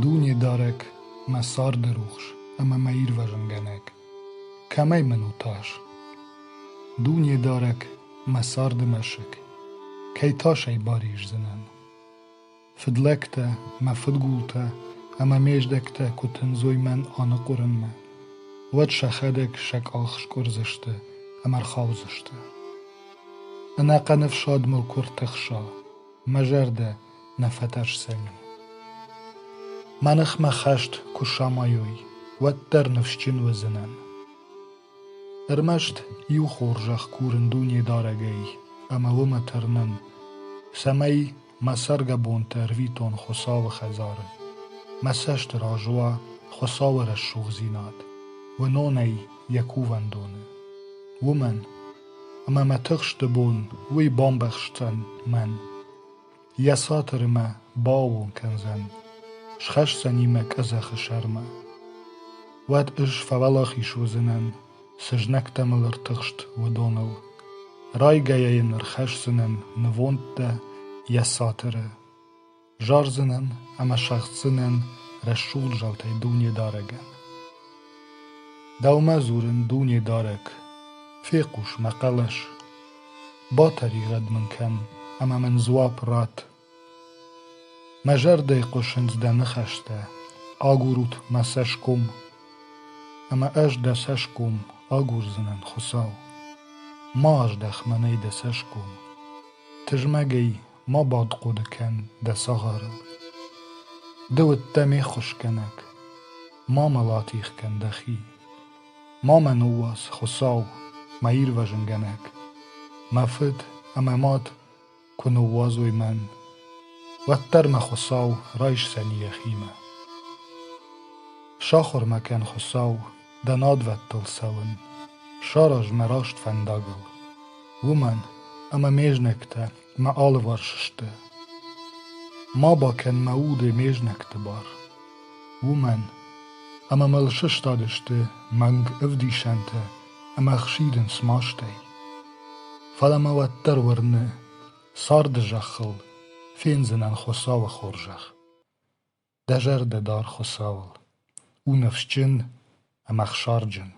Дуне дарӕг, мӕ царды рухс ӕмӕ мӕ ирвӕзынгӕнӕг, кӕмӕй мын у тас? Дуне дарӕг, мӕ царды мӕсыг, кӕй тасӕй бариздзынӕн? Фыдлӕгтӕ, мӕ фыдгултӕ ӕмӕ ме здӕхтӕ куы тындзой мӕн аныхъуырынмӕ, уӕд сӕхӕдӕг сӕ къах скъуырдзысты ӕмӕ рхаудзысты. Ӕнӕхъӕн ӕфсад мыл куы ӕртӕхса, мӕ зӕрдӕ нӕ фӕтӕрсдзӕни. Мӕ ныхмӕ хӕст куы самайой, уӕддӕр ныфсджын уыдзынӕн. Ӕрмӕст иу хорзӕх курын дунедарӕгӕй ӕмӕ уымӕ тӕрнын, цӕмӕй Мӕ цӕргӕбонты ӕрвитон Хуыцауы хӕдзары. Мӕ цӕсты раз уа Хуыцауы рӕсугъддзинад, уынонӕй йӕ кувӕндоны. Уымӕн, ӕмӕ мӕ тыхсты бон уый бамбӕхсдзӕн мӕн. Йӕ цатыры мӕ бааууон кӕндзӕн, схӕсдзӕни мӕ къӕдзӕхы сӕрмӕ. Уӕд ӕз фӕуӕлахиз уыдзынӕн Цы знӕгтӕ мыл ӕртыхст, уыдоныл, райгӕйӕ йын ӕрхӕсдзынӕн нывондтӕ йӕ цатыры, зардзынӕн ӕмӕ сӕгъддзынӕн рӕсугъд заутӕй Дунедарӕгӕн. Дӕумӕ дзурын, Дунедарӕг, фехъус мӕ хъӕлӕс, батӕригъӕд мын кӕн ӕмӕ мын дзуапп ратт Мӕ зӕрдӕйы хъуысынц дӕ ныхӕстӕ: агурут мӕ цӕсгом, ӕмӕ ӕз дӕ цӕсгом агурдзынӕн, Хуыцау. Ма аздӕх мӕнӕй дӕ цӕсгом, тызмӕгӕй ма бадхъуыды кӕн дӕ цагъарыл. Ды уыдтӕ ме ххуысгӕнӕг, ма мӕ латих кӕн дӕхи. Ма мӕ ныууадз, Хуыцау, мӕ ирвӕзынгӕнӕг, мӕ фыд ӕмӕ мад Куы ныууадзой мӕн, уӕддӕр мӕ Хуыцау райсдзӕн йӕхимӕ. Сахуыр-ма кӕн, Хуыцау, дӕ надвӕндтыл цӕуын, сараз мӕ раст фӕндагыл, уымӕн ӕмӕ ме знӕгтӕ мӕ алыварс сты. Ма бакӕн мӕ уды ме знӕгты бар, уымӕн ӕмӕ мыл сыстадысты мӕнг ӕвдисӕнтӕ ӕмӕ ӕхсидын смастӕй. Фӕлӕ мӕ уӕддӕр уырны, царды зӕххыл фендзынӕн Хуыцауы хорзӕх. Дӕ зӕрдӕ дар Хуыцауыл, у ныфсджын ӕмӕ хсарджын.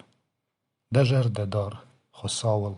Дӕ зӕрдӕ дар Хуыцауыл.